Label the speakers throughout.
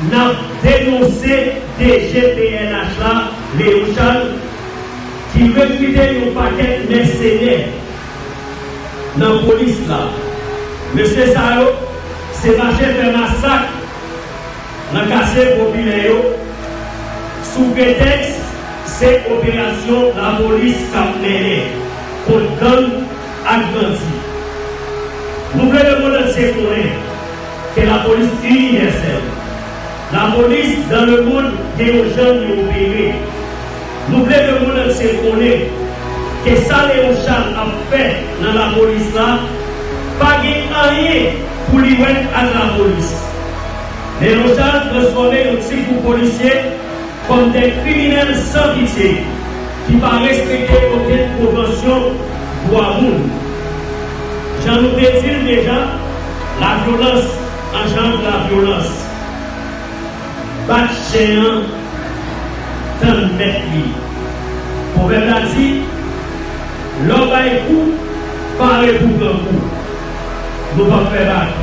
Speaker 1: Nap denonse DG pnh la Léon Charles ki rekrite yon pakèt mèsenè nan polis la. Mesye sa yo se mache fè masak nan katye popilè yo sou pretèks se operasyon lapolis kap mennen kont gang ak bandi. Nou vle lemondantye konnen. ke lapolis inivèsèl. Lapolis dan le mond gen yon jan li opere. Nou vle le mond antye konnen ke sa Leon Charles ap fè nan lapolis la pa gen anyen pou li wè ak lapolis. Leon Charles transfòme yon ti gwoup polisye kòm de kriminèl san pitye ki pa respekte okenn konvansyon dwa moun. Jan nou te di l deja, La vyolans anjandre la vyolans. Bat chen an tann mèt li. Pwovèb la di, Lè w bay kou, pare pou w pran kou. Nou pap fè bak.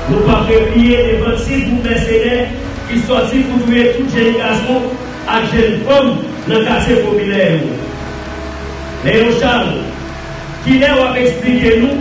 Speaker 1: Nou pap repliye devan ti gwoup mèsenè ki sòti pou touye tout jenn gason ak jenn fanm nan katye popilè yo. Leon Charles, kilè w ap esplike nou?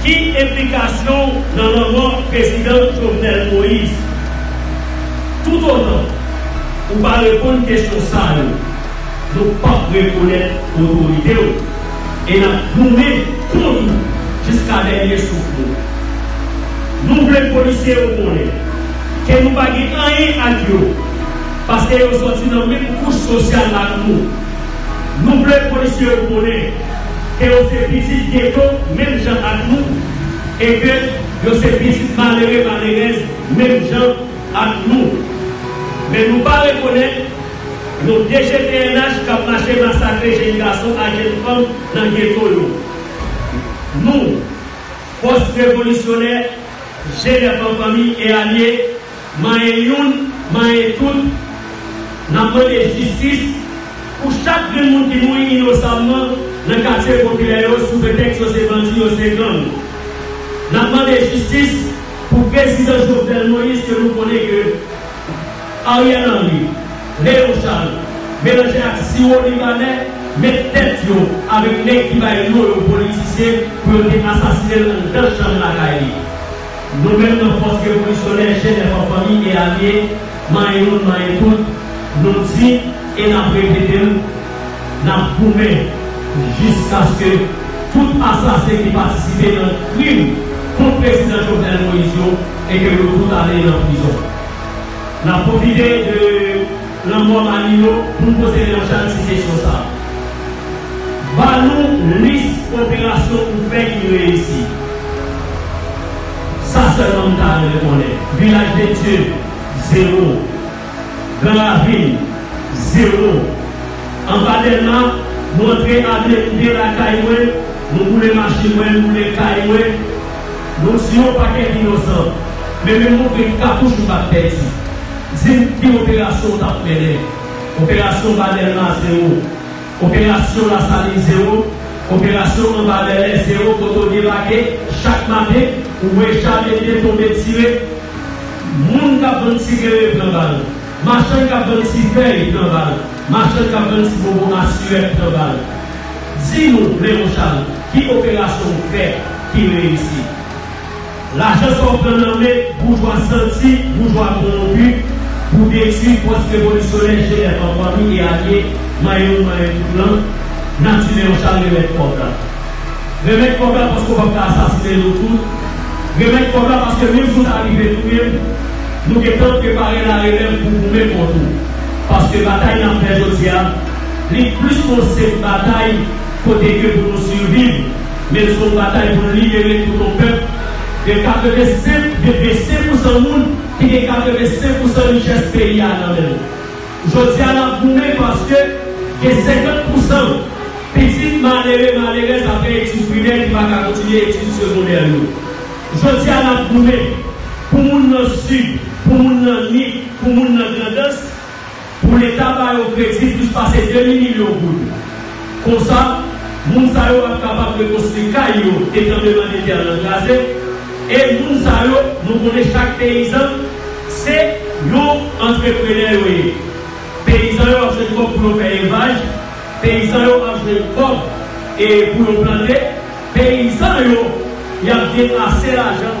Speaker 1: Ki enplikasyon w nan lanmò prezidan Jovenel Moïse? Toutotan ou pa reponn kesyon sa yo, nou p ap rekonèt otorite w e n ap goumen kont ou jiska dènye souf nou. Nou vle polisye yo konnen ke nou pa gen anyen ak yo paske yo sòti nan menm kouch sosyal ak nou. Nou vle polisye yo konnen. ke yo se pitit geto menm jan ak nou e ke yo se pitit malere malerèz menm jan ak nou. Men nou pa rekonèt yon dgpnh k ap mache masakre jenn gason ak jenn fanm nan geto yo. Nou, Fòs Revolisyonè, Jenèf an Fanmi e Alye, manyen youn, manyen tout, n ap mande jistis pou chak grenn moun ki mouri inosamman nan katye popilè yo sou pretèks yo se bandi, yo se gang. N ap mande jistis pou prezidan Jovenel Moïse ke nou konnen ke Ariel Henry, Léon Charles, melanje ak siwo libanè, met tèt yo avèk nèg ki bay non yo politisyen pou yo te asasine l anndan chanm lakay li. Nou menm nan Fòs Revolisyonè Jèn Èfò Fanmi e Alye, Manyen Youn Manyen Tout, nou di e n ap repete l, N ap goumen jiskaske tout asasen ki patisipe nan krim kont Prezidan Jovenel Moïse yo e ke yo tout ale nan prizon. N ap pwofite de. Lanmò Manino pou n poze Jean Charles ti kesyon sa a. Ba nou lis operasyon ou fè ki reyisi. Sa sèlman m ta renmen konnen. Vilaj de Dye, zewo. Gran Ravin, zewo. Anba Dèlma, nou antre Avni M. Delà kay mwen, nou boule machin mwen, m boule kay mwen. Nou tiye yon pakèt inosan, men menm moun gen katouch ou pat pèdi. Di m ki operasyon ou t ap mennen? Operasyon ba Dèlma zewo. Operasyon Lasalin zewo. Operasyon anba Bèlè zewo kote w debake chak maten ou wè Jamedyen tonbe tire, moun k ap vann ti klere pran bal, machann k ap vann ti fèy pran bal, machann k ap vann ti bonbon asirèt pran bal. Di nou Leon Charles ki operasyon ou fè ki reyisi? Lajan sa w pran nan men boujwa santi, boujwa kowonpi pou detwi fòs revolisyonè Genève an fanmi e alye manyen nou manyen tout lan, nati Leon Charles remèt kòb la. Remèt kòb la paske w pap ka asasinen nou tout, remèt kòb la paske menm si w ta rive touye m, nou gentan prepare larelèv pou goumen kont ou. Paske batay n ap fè jodi a. Li plis ke yon senp batay kote ke pou nou siviv, men se yon batay pou nou libere tout yon pèp de 85 de 25 pousan moun ki gen 85 pousan richès peyi a nan men l. Jodi a nap goumen paske gen 50 pousan pitit malere malerèz apre etid primè ki paka kontinye etid segondè yo. Jodi a nap goumen pou moun nan sid, pou moun nan nip, pou moun nan grandans. pou leta ba yo kredi plis pase demi milyon goud. Konsa, moun sa yo ap kapab rekonstwi kay yo ke tranbleman de tè lan kraze. E moun sa yo, nou konnen chak peyizan se yon antreprenè yo ye. Peyizan yo ap jwenn kòb pou yo fè elvaj, peyizan yo ap jwenn kòb e pou yo plante, peyizan yo y ap gen ase lajan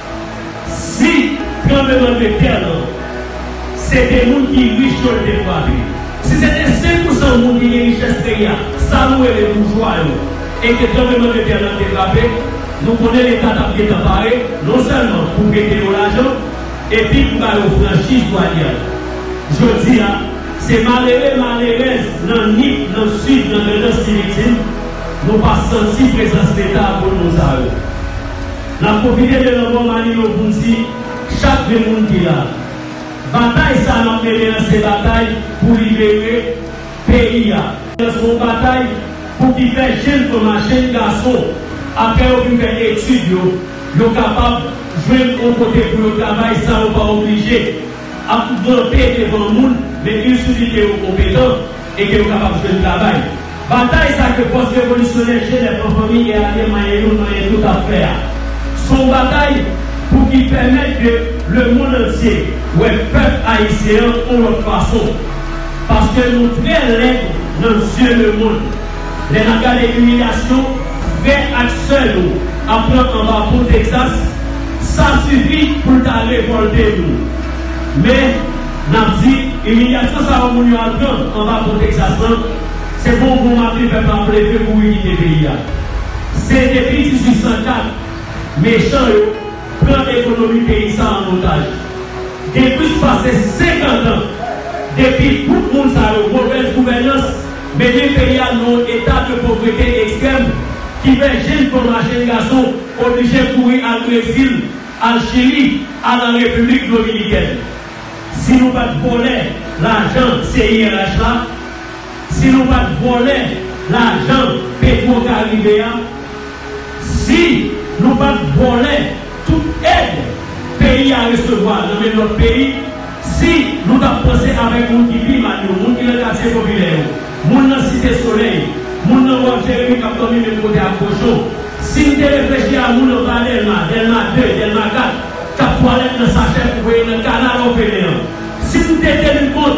Speaker 1: Si tranbleman de tè lan se te moun ki rich yo l te frape, si se te 5 pou san moun ki gen richès peyi a, sa nou rele boujwa yo, e ke tranbleman de tè lan te frape, nou konnen Leta t ap gentan pare non sèlman pou prete yo lajan epi pou ba yo franchiz dwanyè. Jodi a, se malere, malerèz nan Nip, nan Sid, nan Grandans ki viktim, nou pa santi prezans Leta a pou l moun sa yo. Nap pwofite de lanmò Manino poun di chak de moun ki la. Batay sa nap mennen an se batay pou libere peyi a. Se yon batay pou ki fè jenn fanm ak jenn gason aprè yo fin fè etid yo, yo kapab jwenn yon kote pou yo travay san yo pa oblije. ap ranpe devan moun men yn souli ke yo konpetan e ke yo kapab jwenn travay. Batay sa ke fòs revolisyonè Jenèf an fanmi e alye manyen yo manyen tout ap fè a, son batay pou ki pèmèt ke lemond antye wè pèp ayisyen an on lòt fason. Paske nou trè lèd nan zye lemond. Lè nap gade imilyasyon frè ak sè nou ap pran anba pon Texas sa sifi poul ta revolte nou men nap di imilyasyon sa yo moun yo al pran anba pon Texas lan se pou yon bon maten pèp la leve kouri kite peyi a se depi 1804 mechan yo pran ekonomi peyi sa an otaj. Gen plis pase 50 an depi gwoup moun sa yo, movèz gouvènans, mennen peyi a nan yon eta de povrete ekstrèm ki fè jenn fanm a jenn gason oblije kouri al Brezil, al Chili, al an Repiblik Dominikèn. Si nou pa t vòlè lajan CIRH la, si nou pat vòlè lajan petro karibe a si nou pat vòlè tout èd peyi a resevwa nan men lòt peyi si nou tap panse avèk moun ki pi mal yo moun ki nan katye popilè yo moun nan site solèy moun nan wòl jeremi kap dòmi menm kote ak kochon si n te reflechi a moun anba dèlma dèlma 2 dèlma 4 kap twalèt nan sachè pou voye nan kanal òfelen an si n te teni kont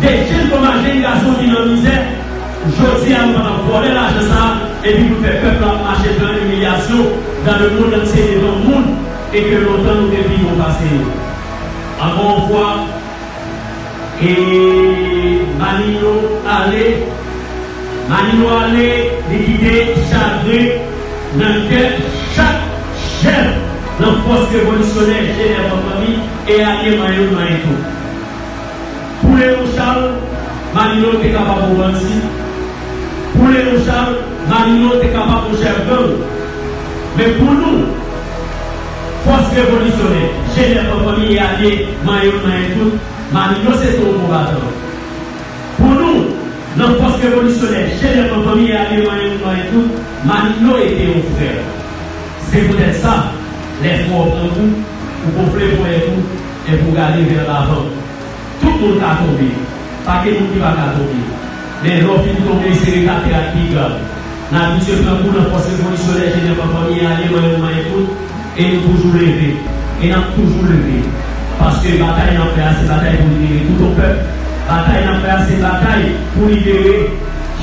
Speaker 1: 2 jèn koma jèn gason ki nan mizè jodi a nou pa tap vòlè lajan sa epi poun fè pèp la ap mache pran imilyasyon dan le mond antye devan moun e ke lontan nou te pi bon pase yo ankò yon fwa e manino ale manino ale li kite chagren nan kè chak jèn nan fòs revolisyonè jenèv an fanmi e alye manyen nou manyen tou. Poule yon chal, Manno te kapab yon bandi. Poule yon chal, Manno te kapab yon chèf gang. Men pou nou, fòs revolisyonè, jenè fanfanmi e alye manyen m manyen tout, Manno se te yon konbatan. Pou nou, nan fòs revolisyonè, jenè fanfanmi e alye manyen moun manyen tout, Manno e te yon frè. Se poutèt sa, lè fwon an pran kou, ou gonfle ponyèt ou, È pou gade vè lavan. Tout moun ka tonbe. Pa gen moun ki pa ka tonbe. Men, lè w fin tonbe, se rete atè a k pi grav. N abitye pran kou nan fòs revolisyonè Jenèv an fanmi an ale manyen pou manyen kout, e nou toujou leve. E n ap toujou leve. Paske batay n ap fè a se batay pou libere tout yon pèp. Batay n ap fè a se batay pou libere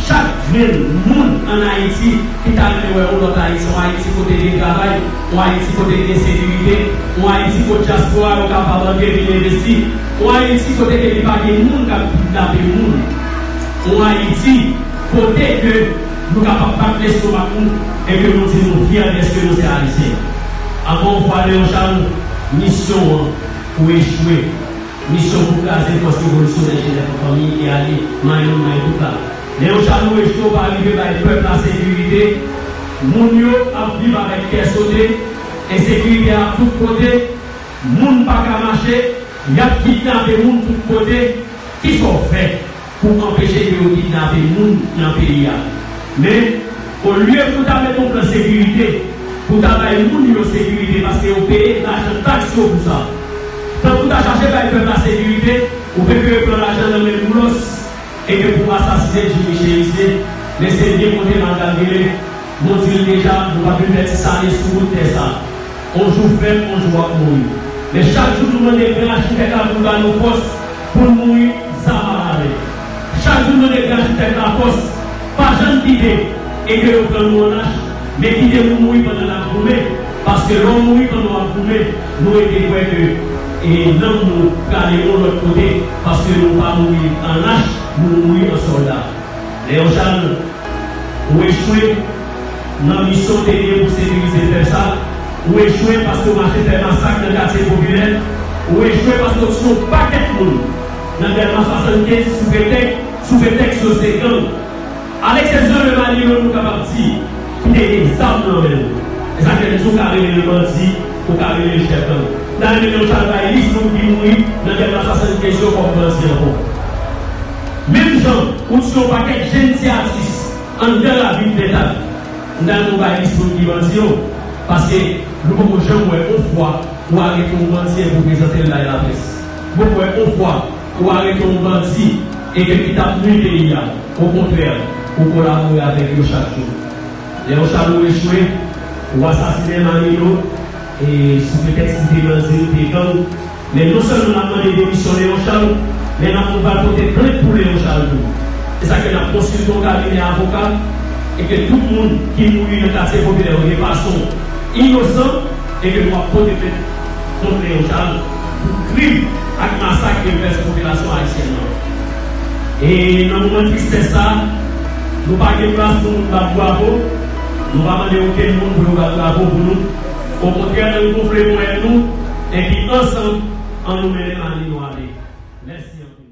Speaker 1: chak grenn moun ann Ayiti ki ta renmen wè yon lòt Ayiti, yon Ayiti kote gen travay, Yon Ayiti kote gen sekirite, yon Ayiti kote dyaspora yo kapab antre vin envesti, yon Ayiti kote ke li pa gen moun kap kidnape moun, yon Ayiti kote ke nou kapab bat lestomak nou e ke nou di nou fyè dèske nou se Ayisyen. Ankò yon fwa Leon Charles, misyon an ou echwe. Misyon pou kraze fòs revolisyonè Jenèv an fanmi e alye, mayo nou mayo tout la. Lè yon chado resto pa rive bay pèp la sekirite, moun yo ap viv avèk kè sote, ensekirite a tout kote, moun pa ka mache, y ap kidnape moun tout kote, ki sa w fè pou anpeche ke yo kidnape moun nan peyi a? Men, olye pou w ta mete yon plan sekirite, pou w ta bay moun yo sekirite paske yo peye lajan taks yo pou sa, tankou w ta chache bay pèp la sekirite, ou prefere pran lajan nan men Boulos. E ke pou asasine Jimmy Cherice te, men se byen kote mal kalkile, nou di l deja nou pa vle pè ti sale sou bout tè sa. On jou fèt, on jou wap mouri. Men chak jou nou mande gran achitèk la pou l ba nou fòs pou n mouri zam a la men. Chak jou n mande gran achitèk la fòs, pa jann kite e ke yo pran nou an lach, men kite nou mouri pandan nap goumen. Paske lè w mouri pandan w ap goumen, nou rete kwè ke e nanm nou prale yon lòt kote, paske nou pa mouri an lach, nou mouri an sòlda. Lè yo chal ou echwe nan misyon w te genyen pou sekirize pèp sa, ou echwe paske w mache fè masak nan katye popilè, ou echwe paske w tiye yon pakèt moun nan Dèlma 75 sou pretèk sou pretèks yo se gang. A leksepsyon de Mali yo nou kapab di ki te gen zam nan men l. E sa fè n di ou ka rele l bandi, ou ka rele l chèf gang. N a rele yon chalbayris moun ki mouri nan gè mas 75 yo kòm bandi ankò. Menm jan ou ti yon pakèt jenn ti atis anndan ravin Pentad, n ta di w pa ekziste moun ki bandi yo paske nou poko janm wè yon fwa ou arete yon bandi epi w prezante l bay laprès. Nou poko wè yon fwa ou arete yon bandi. E gen ki t ap nui peyi a. Okontrè, ou kolabore avèk yo chak jou. Lè yon chalou echwe, ou asasinen Manilo e sou pretèks li te bandi, li te gang. Men non sèlman n ap mande demisyon Leon Charles, men n ap nou pral pote plent pou Leon Charles tou. Se sa k fè n ap konsilte yon kabinè avoka e ke tout moun ki mouri nan katye popilè yo de fason inosan e ke nou ap pote plent. Pote yon chal pou krim ak masak yo fè sou popilasyon ayisyèn nan. E nan moman tristès sa, nou pa gen plas pou moun bat bwavo, nou pa mande okenn moun pou yo bat bravo pou nou. Okontrè ann gonfle ponyèt nou epi ansanm annou mennen lane nou ale. Mèsi anpil.